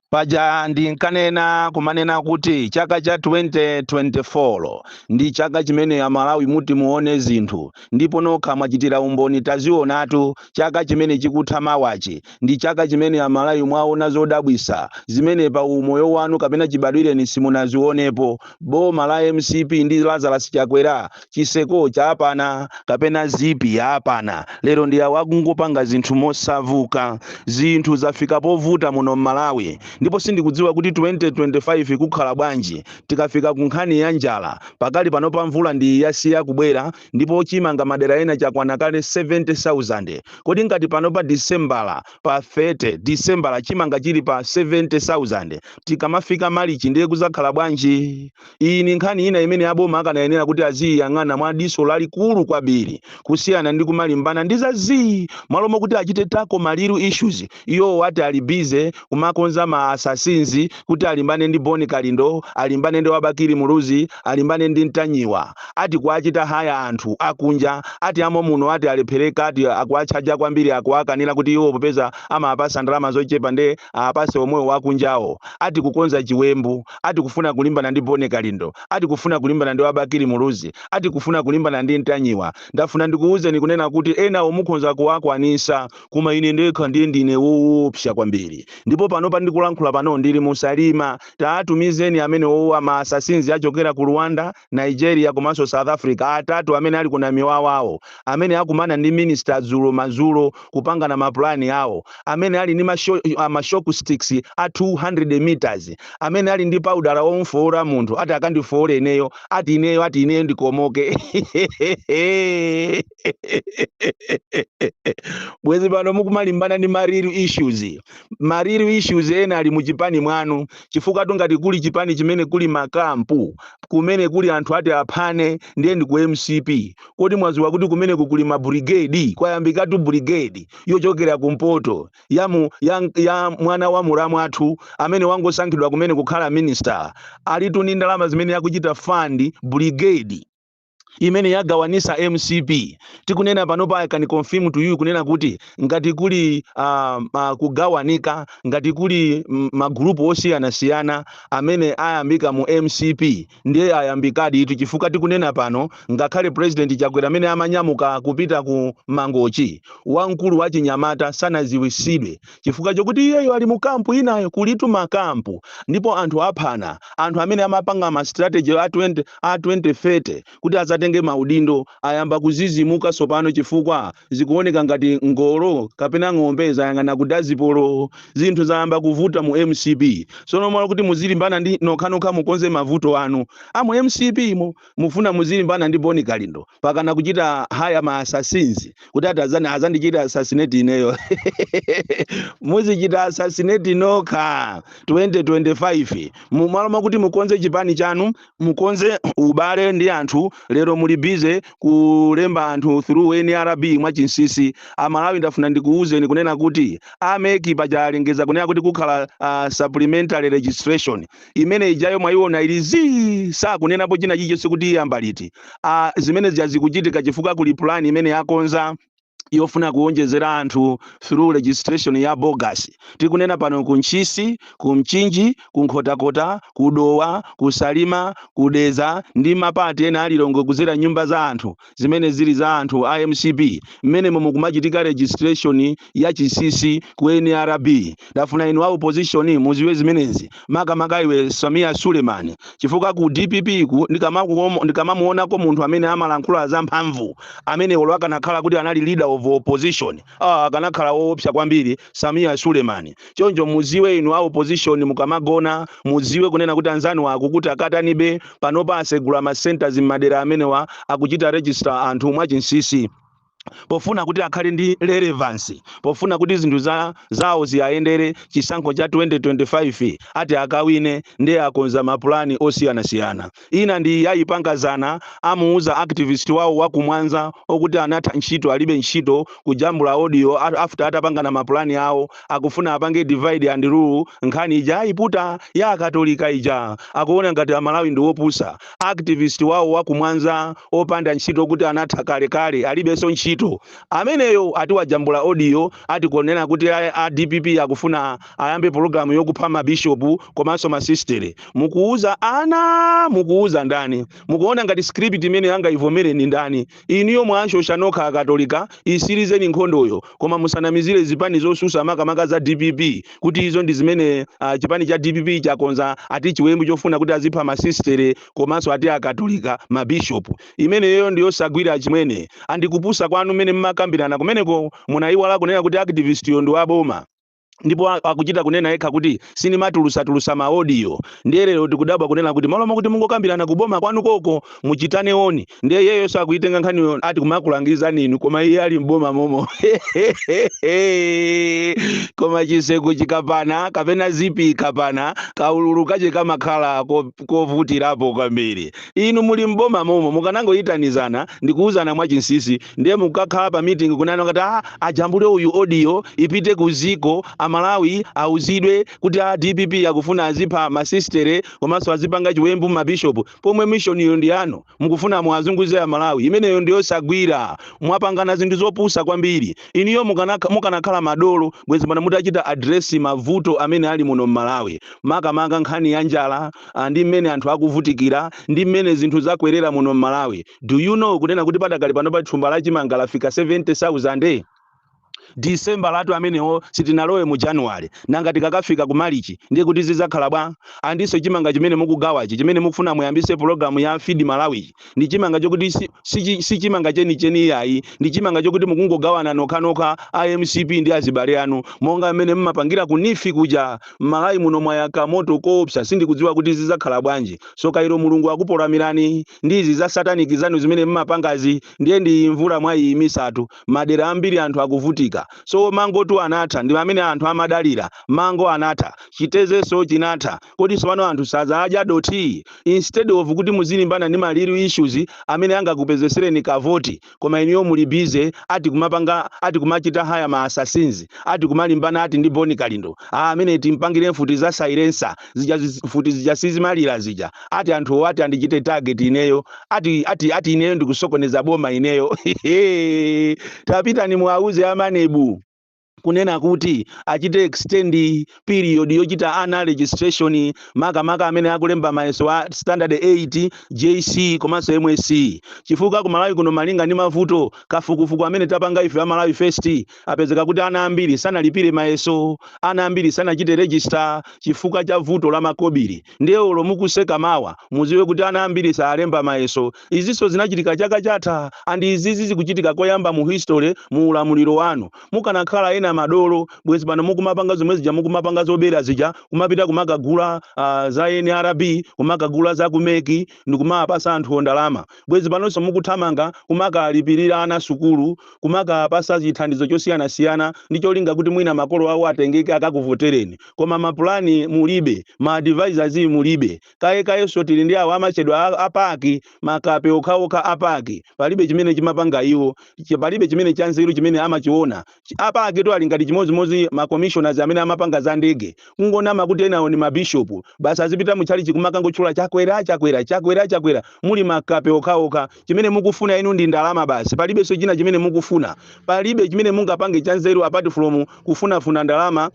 paja ndinkanena kumanena kuti chaka cha 2024 ndi chaka chimene amalawi muti muone zinthu ndipo nokha mwachitira umboni tazionatu chaka chimene chikutha mawachi ndi chaka chimene amalawi mwaona zodabwisa zimene pa umoyo wanu kapena chibadwireni simunazionepo boma la mcp ndi lazarus chakwera chiseko chapana kapena zipi yapana lero ndi awo akungopanga zinthu mosavuka zinthu zafika povuta muno mmalawi ndipo sindikudziwa kuti 2025 kukhala bwanji tikafika ku nkhani ya njala pakali pano pa mvula ndi yasiya kubwera ndipo chimanga madera ena chakwana kale 70000 kodi ngati pano pa disembala pa 30 disembala chimanga chili pa 70000 tikamafika malichi ndiye kuzakhala bwanji Iyi ni nkhani ina imene a boma akanayenela kuti aziiyang'ana mwa diso lalikulu kwambili kusiyana ndi kumalimbana ndi za zii! M'malo mokuti acite tackle ma real issues, iwowo ati ali busy kumakonza ma assassins kuti alimbane ndi Bon Kalindo, alimbane ndi wa Bakili Muluzi, alimbane ndi Ntanyiwa. Ati kuwacita hire anthu akunja, ati a momuno ati alepheleka, ati akuwachaja kwambili, akuwakanila kuti iwo popeza amapasa ndalama zocepa nde awapase omwewo akunjawo. Ati kukonza ciwembu. ati kufuna kulimbana ndi Boni Kalindo, ati kufuna kulimbana ndi wa Bakili Muluzi, ati kufuna kulimbana ndi Ntanyiwa. Ndafuna ndikuwuzeni kunena kuti enawo mukhonza kuwakwanisa koma ine ndekha ndiye ndine wowopsa kwambiri. Ndipo panopa ndikulankhula pano ndili mu Salima. Taatumizeni amenewowa ma assassins achokera ku Rwanda. Nigeria komanso South Africa atatu amene ali ku Namiwawawo amene akumana ndi minister dzulo madzulo kupangana ma plan awo amene ali ndi ma shock sticks a 200 meters amene ali ndi paudala omfoora munthu ati akandifoore ineyo ati ineyo ati ineyo ndikomoke bwezi pano mukumalimbana ndi ma real issues ma real issues ena ali muchipani mwanu chifukwa tungati kuli chipani chimene kuli makampu kumene kuli anthu ati aphane ndiye ndi ku mcp kodi mwaziwa kuti kumeneko kuli ma brigade kwayambikatu brigade yochokera kumpoto ya mwana wa mulamu athu amene wangosankhidwa kumene kukhala minister alitu ndi ndalama zimene akuchita fund brigade imene yagawanisa mcp tikunena panopa i can confirm to you kunena kuti ngati kuli uh, uh, kugawanika ngati kuli mm, magrupu osiyanasiyana amene ayambika mu mcp ndiye ayambikaditu chifukwa tikunena pano ngakhale president chakwera amene amanyamuka kupita ku mangochi wamkulu wa chinyamata sanaziwisidwe chifukwa chokuti iyeyo ali mu kampu inayo kulitu makampu ndipo anthu aphana anthu amene amapanga ma strategy a 2030 kuti azatenge maudindo ayamba kuzizimuka tsopano chifukwa zikuoneka ngati ngolo kapena ng'ombe zayang'ana ku dazibomu zinthu zayamba kuvuta mu mcp sono mmalo kuti muzilimbana ndi nokhanokha mukonze mavuto anu amu mcp imo mufuna muzilimbana ndi Bon Kalindo pakana kuchita haya ma assassins kuti azandichite assassinate ineyo muzichita assassinate nokha 2025 mumalo mwakuti mukonze chipani chanu mukonze ubale ndi anthu lero muli busy kulemba anthu through nrb mwachinsisi amalawi ndafuna ndikuwuzeni kunena kuti a MEC paja alengeza kunena kuti kukhala uh, supplementary registration imene ijayo mwaiona ili zii sakunenapo china chilichonse kuti iyamba liti a zimene zija zikuchitika chifukwa kuli plan imene yakonza yofuna kuwonjezera anthu through registration ya bogus tikunena pano ku ntchisi ku mchinji ku nkhotakota ku dowa ku salima ku dedza ndi mapati ena a Lilongwe kuzera mnyumba za anthu zimene zili za anthu a mcp mmenemo mo mukumachitika registration ya chinsisi ku nrb ndafuna inu a opposition muziwe zimenezi makamaka iwe Sameer Suleman chifukwa ku dpp ku ndi kamamuonako munthu amene amalankhula za mphamvu amene olo akanakhala kuti anali leader of opposition Aaa akanakhala owopsa kwambiri Sameer Suleiman. Choncho muziwe inu a opposition mukamagona muziwe kunena kuti anzanuwa akuti akatani be panopa asegula ma centres mmadera amenewa akuchita register anthu mwachinsisi pofuna kuti akhale ndi relevance pofuna kuti zinthu zawo ziwayendere chisankho cha 2025 ati akawine nde akonza mapulani osiyanasiyana. Ina ndi iyi ayipanga dzana amuuza activist wawo wa ku mwanza okuti anatha ntchito alibe ntchito kujambula audio after atapangana ma plan awo akufuna apange divide and rule nkhani ija ayiputa ya akatolika ija akuona ngati amalawi ndi opusa activist wawo wa ku mwanza opanda ntchito okuti anatha kale kale alibenso ntchito ameneyo ati wajambula audio ati kunena kuti a dpp akufuna ayambe pulogalamu yokupha mabishopu komanso masistere mukuuza ana mukuuza ndani mukuona ngati script imeneyi angayivomere ndi ndani inuyo mwashosha nokha akatolika itsirizeni nkhondoyo koma musanamizire zipani zotsutsa makamaka za dpp kuti izo ndi zimene ah, chipani cha dpp chakonza ati chiwembu chofuna kuti azipha masistere komanso ati akatolika mabishopu imeneyo ndiyosagwira achimwene a ndi kupusa kwanu mmene mmakambirana kumeneko munayiwala kunena kuti activist yo ndi waboma ndipo a- akuchita kunena yekha kuti sindimatulutsatulutsa maodiyo ndiye lero tikudabwa kunena kuti mmalo mokuti mungokambirana kuboma kwanu koko muchitane oni ndiye iyeyoso akuyitenga nkhaniyi ati kumakulangizani inu koma iye ali mboma momo koma chiseko chikapana kapena zipi ikapana kaululu kache kamakhala ko- kovutirapo kwambiri inu muli mboma momo mukanangoyitanizana ndikuwuzana mwachinsisi Ndiye mukakhala pa meeting kunena kuti ah, ajambule uyu audio ipite kuziko a Malawi auzidwe kuti a DPP akufuna azipha masistere komanso azipanga chiwembu ma bishop pomwe mission iyo ndi yanu mukufuna muwazunguze a Malawi imeneyo ndi yosagwira mwapangana zinthu zopusa kwambiri inuyo mukanakha- mukanakhala madolo bwezi pano mutachita address mavuto amene ali muno m'Malawi makamaka nkhani ya njala ah, ndi mmene anthu akuvutikira ndi mmene zinthu zakwerera muno m'Malawi do you know kunena kuti padakali pano pa thumba la chimanga lafika 70000 December latu amenewo sitinalowe mu January nanga tikakafika ku Marichi ndiye kuti zizakhala bwa andiso chimanga chimene mukugawachi chimene mukufuna muyambise program ya Feed Malawi ndi chimanga chokuti si, si, si chimanga cheni cheni iyayi ndi chimanga chokuti mukungogawana nokha nokha a MCP ndi azibale anu monga mmene mmapangira ku NEEF kuja Malawi muno mwayaka moto koopsa sindikudziwa kuti zizakhala bwanji Soka ilo mulungu akupolamirani ndi izi za satanic zanu zimene mmapangazi ndiye ndi iyi mvula mwayiyimisatu madera ambiri anthu akuvutika so mangotu anatha ndi amene anthu amadalira mango anatha chitezenso chinatha kodi tsopano anthu sazadya dothi instead of kuti muzilimbana ndi ma real issues amene angakupezetsereni kavoti koma inuyo muli busy ati kumapanga ati kumachita hire ma assassins ati kumalimbana ati ndi Bon Kalindo aa ameneyi timpangire mfuti za silencer zija zi- mfuti zija sizimalira zija ati anthuwo ati andichite target ineyo ati ati ati ineyo ndikusokoneza boma ineyo tapitani muwauze a MANEB kunena kuti achite extend period yochita ana registration makamaka amene akulemba mayeso a standard 8 JC komanso MSCE chifukwa ku Malawi kuno malinga ndi mavuto kafukufuku amene tapanga ife a Malawi First apezeka kuti ana ambiri sanalipire mayeso ana ambiri sanachite register chifukwa cha vuto la makobiri ndiye olo mukuseka mawa muziwe kuti ana ambiri salemba mayeso Izinso zinachitika chaka chatha and izizi zikuchitika koyamba mu history mu ulamuliro wanu. Mukanakhala ena madolo bwezi pano mukumapanga zomwe zija mukumapanga zobera zija kumapita kumakagula uh, za NRB kumakagula za ku MEC ndikumawapasa anthuwo ndalama bwezi panonso mukuthamanga kumakalipirira ana sukulu kumakapasa chithandizo chosiyanasiyana ndi cholinga kuti mwina makolo awo atengeke akakuvotereni koma mapulani mulibe ma advisors mulibe Kaye kayenso tili ndi awa amatchedwa a, a PAC, makape okhaokha a PAC. Palibe chimene chimapanga iwo, ch, palibe chimene chanzeru chimene amachiwona. Ch, a PAC-tu ali ngati chimodzimodzi ma commissioners amene amapanga za ndege, kungonama kuti enawo ndi ma bishop, basi azipita mu tchalitchi kumakangotchula Chakwera, Chakwera, Chakwera, Chakwera, muli makape okhaokha. Chimene mukufuna inu ndi ndalama basi, palibenso china chimene mukufuna. Palibe chimene mungapange chanzeru apart from kufunafuna ndalama.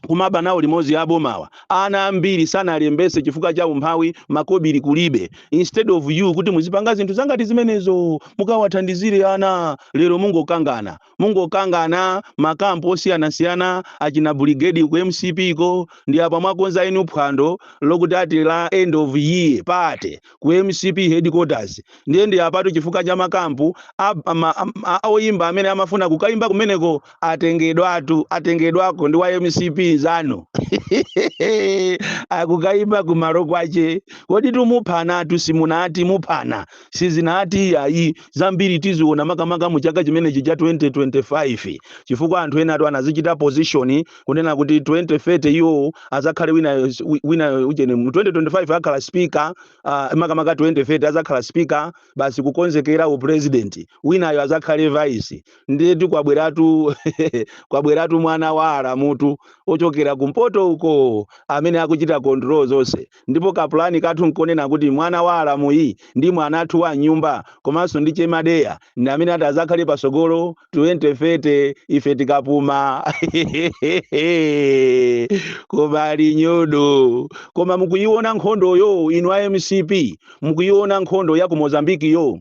kumaba nawo limodzi abomawa. Ana ambiri sanalembetse chifukwa cha umphawi, makobili kulibe. Instead of you kuti muzipanga zinthu zangati zimenezo mukawathandizire ana, lero mungokangana. Mungokangana ma camp osiyanasiyana achina brigade ku mcp ko ndi apa mwakonza enu phwando lokuti ati la end of year party. ku mcp headquarters ndiye ndi apatu chifukwa cha ma camp a, ma, a oyimba amene amafuna kukayimba kumeneko atengedwatu atengedwako ndi wa mcp nzanu akukayimba kumalo kwache kodi tumuphanatu simunati muphana sizinati iyayi zambiri tiziona makamaka mu chaka chimenechi cha 2025 chifukwa anthu enatu anazichita position kunena kuti 2030 iwo azakhale winayo wi- winayo ujeni 2025 akhala speaker uh, makamaka 2030 azakhala speaker basi kukonzekera u president winayo azakhale vice ndiye ati kwabweratu kwabweratu mwana wa alamutu ochokera kumpoto uko amene akuchita control zonse ndipo ka pulani kathu nkonena kuti mwana wa alamuyu ndi mwana wathu wa mnyumba komanso ndi che madeya ndi amene ati azakhale pasogolo 2030 ife tikapuma koma ali nyodo koma mukuyiona nkhondoyo inu a mcp mukuyiona nkhondo ya ku mozambikiyo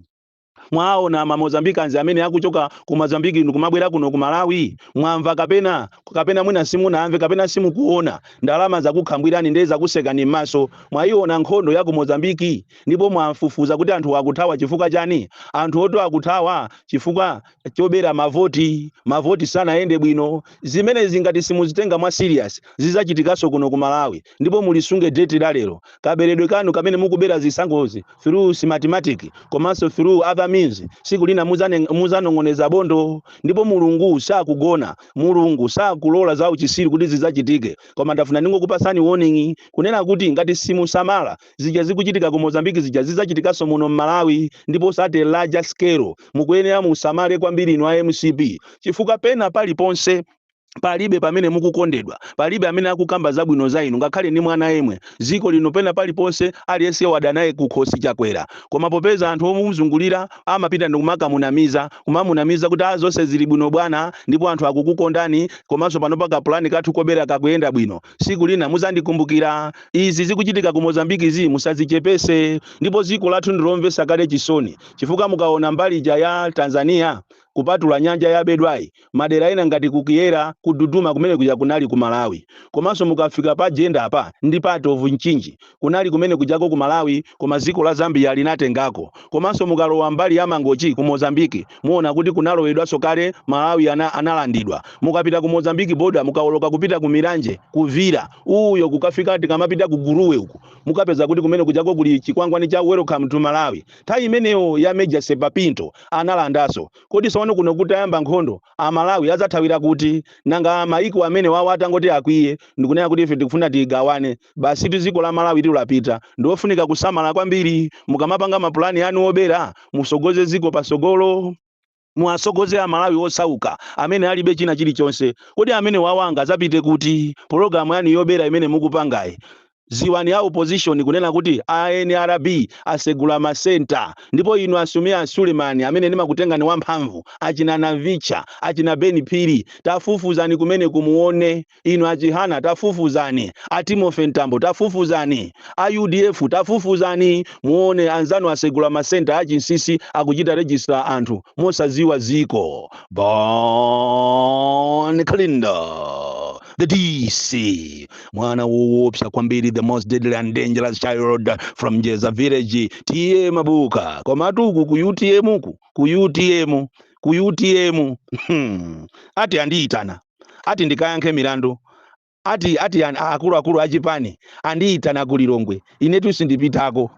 Mwaona ma Mozambicans amene akuchoka ku Mozambique ndikumabwera kuno ku Malawi? Mwamva kapena? Kapena mwina simunamve kapena simukuona? Ndalama zakukhambwirani nde zakusekani mmaso. Mwaiona nkhondo ya ku Mozambique? Ndipo mwafufuza kuti anthuwa akuthawa chifukwa chani? Anthuwotu akuthawa chifukwa chobera mavoti. Mavoti sanayende bwino. Zimenezi ngati simuzitenga mwa serious zizachitikanso kuno ku Malawi. ndipo mulisunge date la lero kaberedwe kanu kamene mukubera zisankhozi through smartmatic komanso through other means siku lina muzane- muzanong'oneza bondo ndipo mulungu sagona mulungu sakalola za uchisiru kuti zizachitike koma ndafuna ndingokupasani warning kunena kuti ngati simusamala zija zikuchitika ku mozambiki zija zizachitikanso muno mmalawi ndipo at a larger scale mukuyenera musamale kwambiri inu a mcp chifukwa pena paliponse palibe amene mukukondedwa palibe amene akukamba zabwino za inu ngakhale ni mwana yemwe ziko lino pena paliponse aliyense wada naye kukhosi chakwera koma popeza anthu omuzungulira amapita ndikumakamunamiza kumamunamiza kuti a zonse zili bwino bwana ndipo anthu akukukondani komanso panopa kapulani kathu kobera kakuyenda bwino siku lina muzandikumbukira izi zikuchitika ku mozambikizi musazichepese ndipo ziko lathu ndilomvesa kale chisoni chifukwa mukaona mbali ija ya tanzania Kupatula nyanja yabedwayi, madera ena ngati ku Kyela, ku Duduma kumene kuja kunali ku Malawi. Komanso mukafika pa Jenda-pa ndi part of Mchinji, kunali kumene kujako ku Malawi koma dziko la Zambia linatengako. Komanso mukalowa mbali ya Mangochi ku Mozambique, muona kuti kunalowedwanso kale Malawi analandidwa. Mukapita ku Mozambique border mukaoloka kupita ku Milange, ku Vila uyo kukafika tikamapita ku Gurue uku, mukapeza kuti kumene kujako kuli chikwangwani cha Welcome to Malawi. Nthawi imeneyo ya Major Serpa Pinto analandaso. Kodi sopano kuno kutayamba nkhondo a Malawi adzathawira kuti? Nanga mayiko amenewawa atangoti akwiye ndikunena kuti ife tikufuna tigawane, basitu ziko la Malawitu lapita. Ndiwofunika kusamala kwambiri mukamapanga mapulani anu wobera musogoze ziko pasogolo. Muwasogoze a Malawi osauka amene alibe china chilichonse. Kodi amenewawa angazapite kuti? Pologalamu yanu yobera imene mukupangayi ziwani a opposition kunena kuti a nrb asegula ma centre ndipo inu a Sameer Suleman amene ndimakutengani wamphamvu, achina Navicha, achina Ben Phiri tafufuzani kumeneko muone. Inu a Chihana tafufuzani, a Timothy Mtambo tafufuzani, a udf tafufuzani muone anzanu asegula ma centre a chinsisi akuchita register anthu mosaziwa ziko. Bon Kalindo the DC mwana woopsa kwambiri the most deadly and dangerous child from Jeza village tiye mabuka komatu uku ku utm ku ku utm ku utm ati andiyitana ati ndikayankhe milandu, ati ati an- a- akuluakulu a chipani andiyitana ku Lilongwe, inetu sindipitako.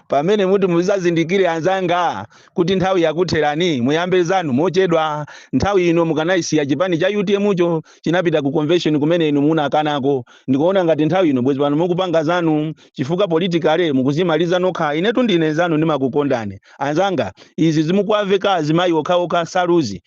Pamene muti muzazindikire anzanga kuti nthawi yakutherani, muyambe zanu mochedwa. Nthawi ino mukanayisiya chipani cha UTM cho chinapita ku convention kumene inu munakanako. Ndikuona ngati nthawi ino bwezi pano mukupanga zanu chifukwa politically mukuzimaliza nokha. Inetu ndine nzanu ndimakukondani. Anzanga, izi zomakawaveka azimayi okhaokha nsaluzi.